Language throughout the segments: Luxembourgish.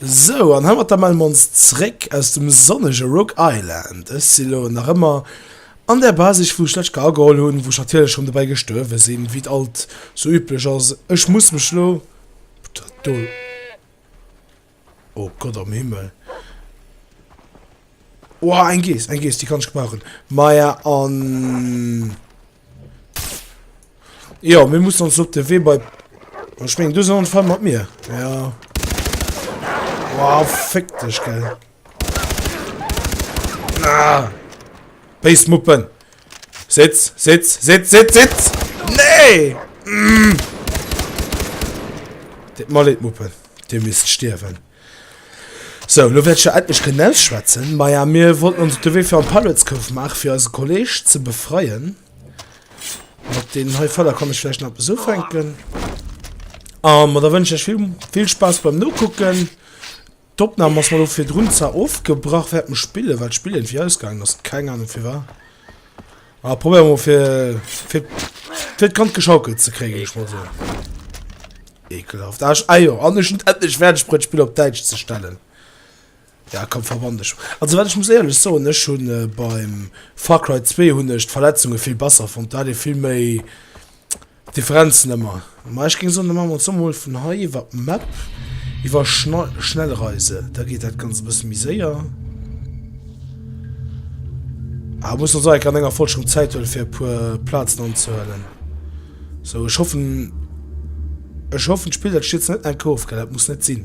Sou, an heimat da melle mer ons zréck aus dem sonnege Rock Island. Ech si lo nach ëmmer an där Bar, sech wou ech d'lescht Kéier ageholl hunn, wou ech natierlech schonn dobäi gestuerwe sinn, wéi et alt sou üblech ass. Ech muss mech lo do. Oh Gott am Himmel. Oha, eng Gees, eng Gees, die kann ich gebrauchen. Maja, an... Ja, wir müssen uns auf den Weg bei... Oh, ich meine, du sind Fall mit mir. Ja. Wow, fick dich, gell. Ah. Bassmuppen. Sitz, sitz, sitz, sitz, sitz. Nee! Mm. Dit mal Muppen. Dir misst stierwen. Sou, lo wäert ech jo endlech kënnen ausschwätzen. Maja, mir wollten ons op de Wee fir an d'Pirates-Cove maachen, fir eise Kolleg ze befreien. Mat deenen hei Fäller kann ech vläicht nach eppes ufänken. A ma da wënschen ech iech vill, vill Spaass beim Nokucken. D'Opnam ass mar lo virdrun zwar ofgebrach wärend dem Spillen, well d'Spill iergendwéi ausgaangen ass, keng Anung firwat. Ah, probéier mol fir, fir, fir d'Kand geschaukelt ze kréien, ech mol so. Ekelhaft. Asch, ah jo, an ech hun endlech färdeg bruet d'Spill op Däitsch ze stellen. Ja komm, verwann dech. Also wat ech muss éierlech soen, ech hun beim Far Cry 2 hun ech d'Verletzunge vill besser fonnt, do hat ee vill méi, Differenzen ëmmer, ma ech géing soen, da maache mer zomol mol vun hei iwwert d'Map, iwwer Schnellreise, da geet dat Ganzt e bësse méi séier. Ah, muss ons enger an enger Folg schonn Zäit huele fir e puer Plazen anzehuelen. Sou, ech hoffen, ech hoffen d'Spill dat stiert se net enk of, gell, dat muss net sinn.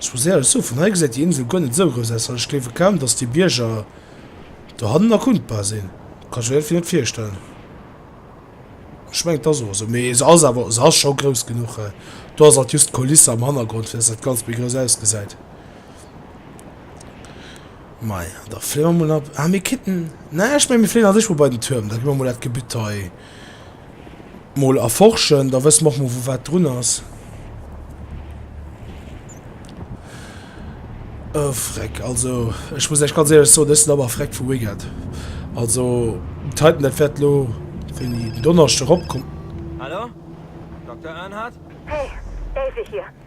Zu Sealsow, vun hei gesäit déi Insel guer net esou grouss aus, an ech gleewe kaum, dass déi Bierger dohannen erkundbar sinn. Kann ech mir iergendwéi net virstellen. Ech mengen, et ass och esou. Mee se ass awer, se ass scho grouss genuch. Do ass alt just d'Kulisse am Hannergrond, fir dass dat Ganzt méi grouss ausgesäit. Majo, da fléi mer mol ab. Ah, mir kéinten, na, ech menge, mir fléien a sech mol bei den Tuerm. Da gi mer mol dat Gebütt hei. Mol erforschen, da wësse mer och mol wou wat drun ass. E Freck, also ech muss Iech ganz éierlech soen, ech sinn awer e Freck vu Wicked. Also Titan, dat wäert elo, wéini den Donneschde eropkomm. Hallo? Dokter Earnhardt? Hey, Davey hier.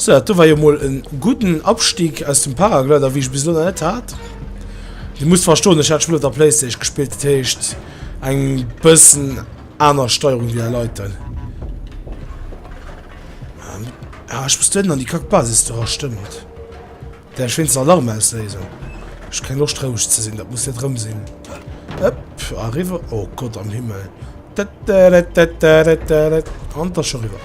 So, dat do war jo mol en gudden Abstieg aus dem Paraglider, wéi ech bis elo nach net hat. Dir musst verstoen, ech hat d'Spill op der Playstation gespillt, dat heescht eng bëssen aner Steierung wéi dei Leit do. Ah, ech muss do hinten an déi kack Basis do, ah stëmmt. Däerf ech wéinstens Alarm ausléisen? Ech hu keng Loscht rouseg ze sinn, dat muss net rëm sinn. Hëpp, eriwwer, oh Gott am Himmel. An da scho riwwer.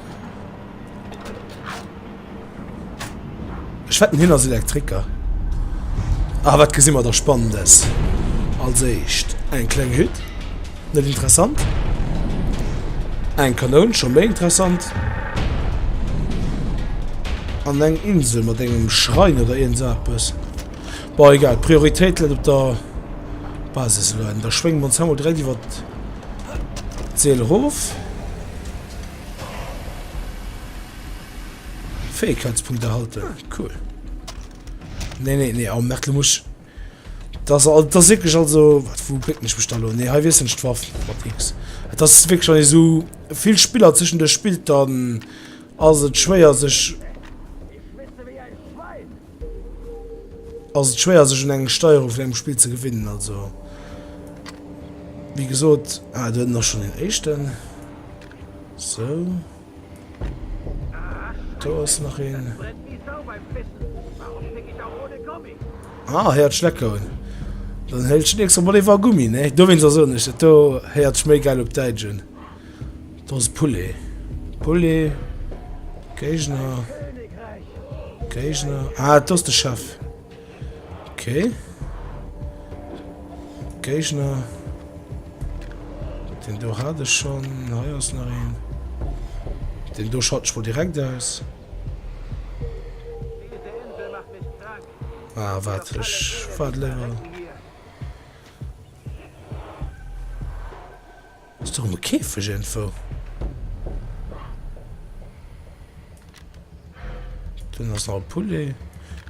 Ech wetten hien ass Elektriker. Ah, wat gesinn mer da Spannendes? Als éischt eng kleng Hütt, net interessant. Eng Kanoun, scho méi interessant. An eng Insel mat engem Schrein oder iergend esou eppes. Bon, egal, d'Prioritéit läit op der Basis elo. Da schwénge mer ons hei mol direkt iwwert d'Seel erof. Fähigkeitspunkt erhalten. Cool. Nee, nee, nee, am Merkel muss... Das, das ist wirklich also... Was, wo bringt mich da lo? Nee, hier wissen nicht Waff. X. Das ist wirklich schon so... Viel Spieler zwischen der spielt dann... Also schwer sich... ass et schwéier sech un eng Steierung vun engem Spill ze gewinnen. Also wéi gesot ah, du nach schon den éischten so do ass nach een ah, héiert Schleckoun dann hëllt nächste Mal iwwer Gummi ne do wéinst ass net do héiert méi geil op Däitsch un. Dose Poulet, Poulet, Géigner, Géigner, ah, et ass de Chef, ok, Géigner, deen do hat ech schonn, hei ass nach een, deen do schalten ech mol direkt aus. Ah, wat, ech waart léiwer. Ass do emol Käfeg iergendwou? Dunn ass nach e Poulet.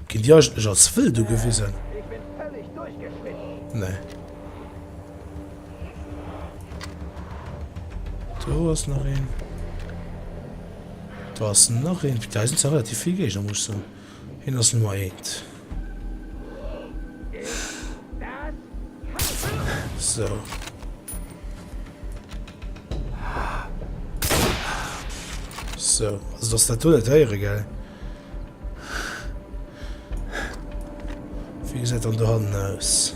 Ginn déi eigentlech als wëllt ugewisen? Nee. Do ass nach een. Do ass nach een. Putain, do sinn ze relativ vill Géigner, muss ech soen. Hien ass Nummer eent. So. So, also dass dat net héiere gell. Wie gesäit an der Hand aus?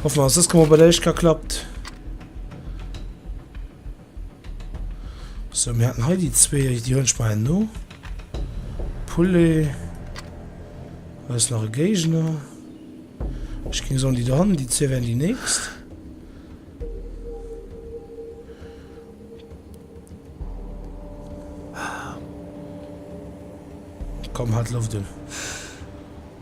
Hoffen ass dës Kemmer bei der éischt ka klappt. So mir hatten hei die zwee die hunn speien no. Poulet ass nach e Géigner. Ech ging so die dran, die zwee wären die nächst. Komm hat Luft un.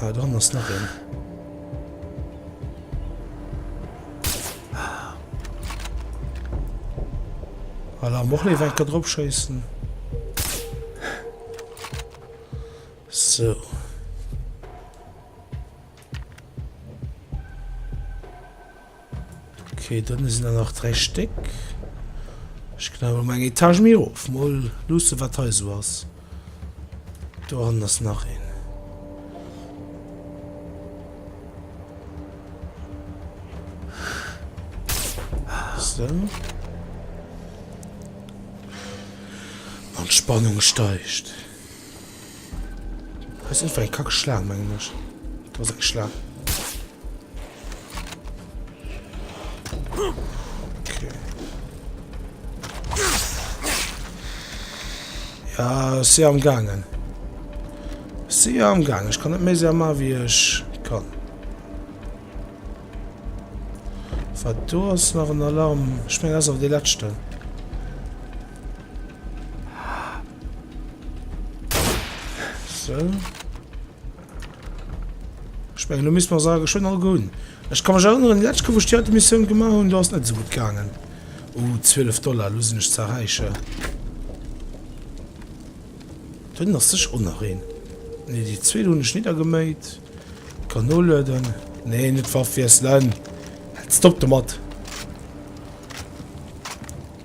Ah, dran ass nach een. Ah. Voilà, am och leef enker drop schëissen. So. Okay, dunne sinn der nach dräi Stéck. Ech ginn awer mol eng Etage méi erof. Mol luussen, wat hei esou ass. Dohannen ass nach een. Sou. An d'Spannung steigt. Weiss net, war eng kack Schlaang, mengen ech. Do ass eng Schlaang. Okay. Ja, si am Gangen. Si am Gangen. Ech kann net méi séier ma wie ech kann. Wat do ass nach en Alarm. Ech meng ass awer de letzten. So. Ich meine, du müssen mal sagen, schon all gut. Ich kann mich erinnern, die letzte, wo ich die alte Mission gemacht habe, da ist nicht so gut gegangen. Oh, 12 Dollar, los nicht zu erreichen. Dann lass ich auch noch rein. Ne, die zwei habe ich niedergemäht. Kanole, dann. Ne, nicht Waffe, wie es Stopp damit.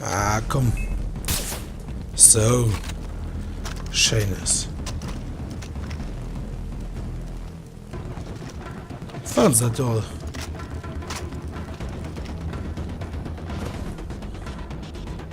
Ah, komm. So. Schönes. Falls er toll.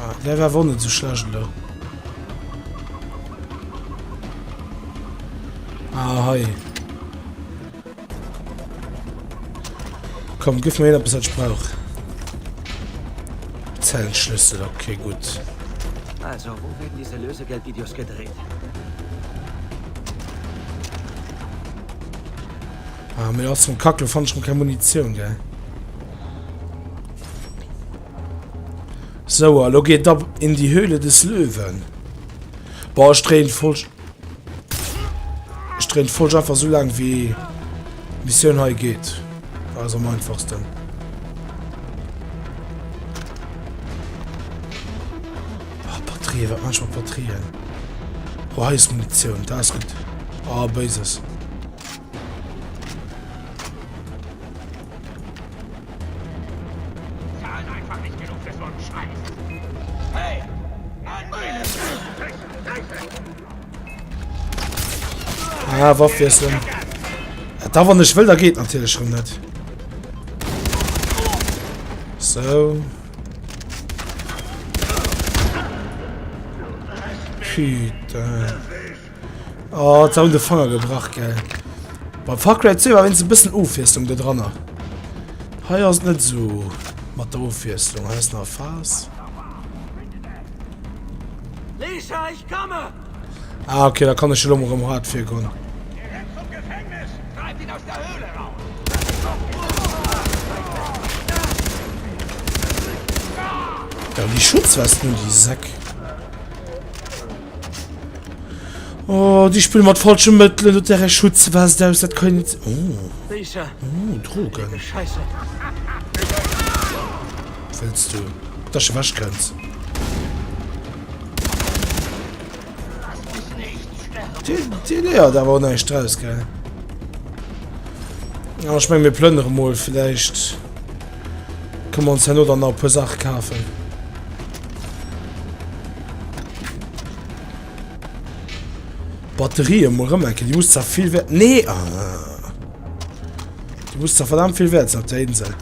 Ah, der war won net so schlecht lo. Ah, hei. Komm, gif mir etwas, was ich brauch. Zellschlüssel, okay, gut. Also, wo werden diese Lösegeldvideos gedreht? Ah, mir aus dem Kackel fand schon keine Munition, gell? Sou, a lo geet ab in die Höhle des Löwen. Boah, ich drehen voll... Ich drehen voll einfach so lang wie Mission hei geht. Also am einfachsten. Oh, Batterie, was manchmal Batterien. Oh, hier ist Munition, da ist gut. Oh, Bases. Ah, Waff wiessen. Äh, da wann ech wëll, da geht natürlich schon net. So. Putain. Oh, da hun de Fanger gebrach gell. Bei Far Cry 2 war wins e bëssen Ofwiesslung do drannner. Hei ass net so mat der Ofwiesslung ass nach Fas. Ah, okay, da kann ech lo rem hart fir gonn. Ja, die Schutzwesten, die Säck. Oh, die spielen mit falschen Mitteln und der Schutzwest aus, das kann nicht... Oh. Lisa. Oh, Drogen. Scheiße. Was willst du? Dass du weg kannst. Die, die ja, da war noch nicht raus, gell? Aber ich meine, wir plündern mal, vielleicht können wir uns ja nur dann noch ein paar Sachen kaufen. Batterie muss rem enke die muss zwar viel wert nee ah. die muss zwar verdammt viel wert auf der Insel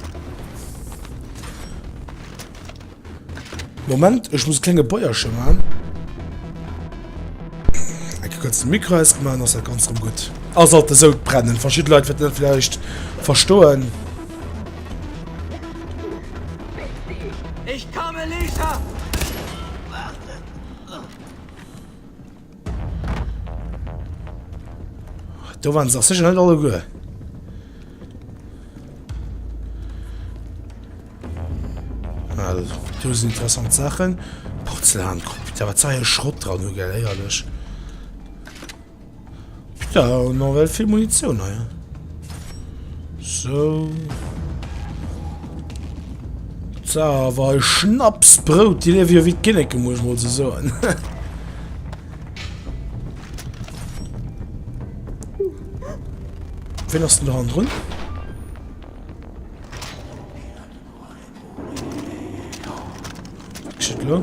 Moment ich muss kleine Bäuerchen machen kurz den Mikro ist gemacht das ganz gut also sollte so brennen verschiedene Leute vielleicht verstohlen Ich komme, Lisa! Da waren sie sicher nicht alle gut. Also, das sind interessante Sachen. Porzellankrop. Da war zwei Schrott dran, gell, ehrlich. Ja, hun och well vill Munitioun hei. So. Sa, awer hei Schnaps, Brout, Dir liewe jo wéi d'Kinneke, muss ech mol ze soen. Wen ass denn da dran? Geschieht lo?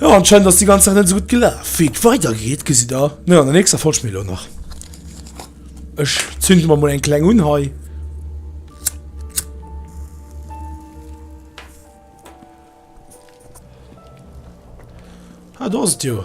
Jo anscheinend ass déi ganz Saach net esou gutt gelaf. Wéi et weider geet gesitt der net an der nächster Folg, schmi elo nach ech zünde mer mol eng kleng un hei. Ah do ass et jo.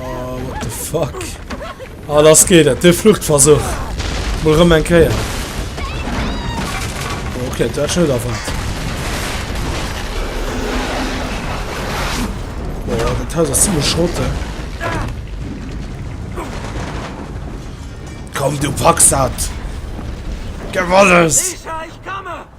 Oh, what the fuck? Ah, lass geht dat. De Fluchtversuch. Mol rëm eng Kéier. Oh, okay, dat schon da wat. Oh, dat Haus ist ziemlich schrott. Komm, du packst dat. Gib alles.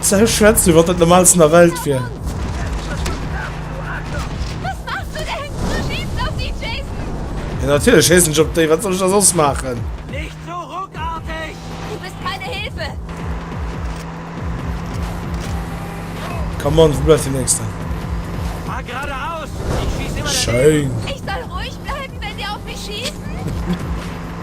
Ze schwätzt wéi wann dat normaalsten der Welt wier. Ja natierlech schéissen ech op déi, wat soll ech da soss maachen? Come on, wou bleift déi nächsten? Schéin.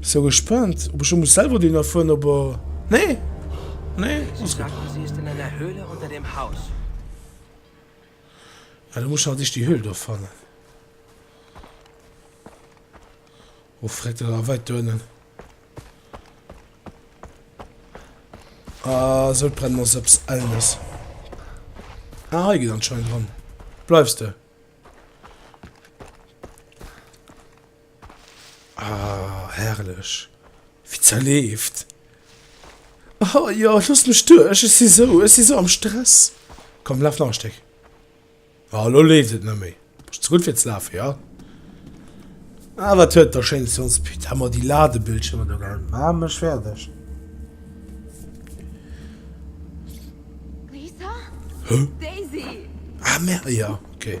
So gespaant op ech elo muss selwer deen erfueren op er nee nee alles gudd. Ah da muss ech awer déch déi Höhl do fannen oh freck dat ass awer weit do ënnen ah Sodbrennen ass eppes ellnes ah hei geet anscheinend ran bleifs de. Ah, herrlech. Wéi zerleeft. Ah, jo, loosst mech duerch, ech si sou, ech si sou am Stress. Komm, laf nach e Stéck. Ah, elo leeft et net méi. Bist ze gutt fir ze lafen, jo? Ah, wat huet der schéin Science Pit. Haa mer déi Ladebildschirmer do gehalen. Maa mech fäerdeg. Lisa? Huh? Daisy! Ah, mer, jo, ok.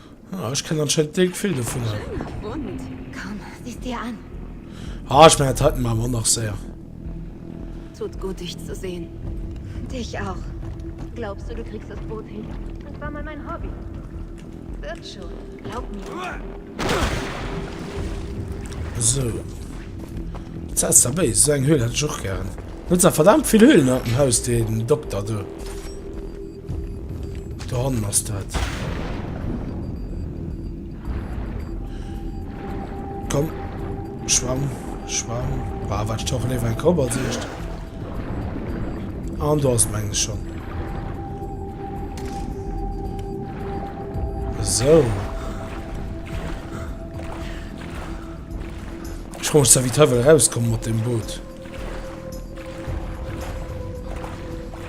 Ah, ech kenne anscheinend net vill dovunner. Ah, ech mengen dat haten mer awer och nach séier. Esou, dat sah aus der béis. Esou eng Höhl hätt ech och gären. Huet zwar verdammt vill Höhlen an dem Haus, den Dokter do. Da hannen ass dat. Komm, schwamm, schwamm. War wat stoch leef eng Kopp als echt. An du hast menges schon. So. Ich komme da wieder rauskommen mit dem Boot.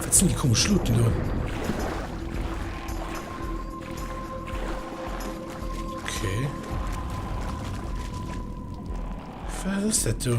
Wat sinn déi komesch Schluten do? Okay. Wat ass dat do?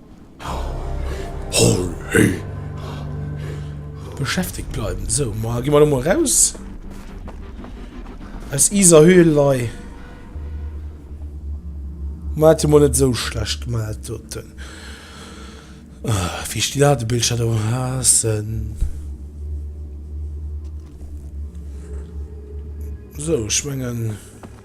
Beschäftegt bleiwen. Sou, ma gi mer mol raus. Aus iser Höhl lei. Ma hat mol net so schlecht gemacht doten. Ah, wie ich die Ladebildschirm do hassen. So, ich mengen...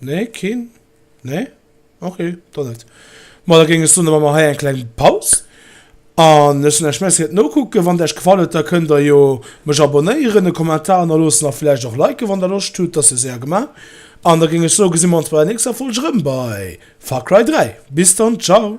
Nee keen? Nee? Ok, dann net. Ma da géing ech soen, da maache mer hei eng kleng Paus an ech soen Iech Merci fir d'Nokucken. Wann et Iech gefall huet, da kënnt Der jo mech abonnéieren, e Kommentar hannerloossen a vläicht och liken, wann Der Loscht hutt. Dat wier séier gemaach. An da géing ech soen, gesi mer ons bei der nächster Folg erëm bei Far Cry 3. Bis dann, ciao!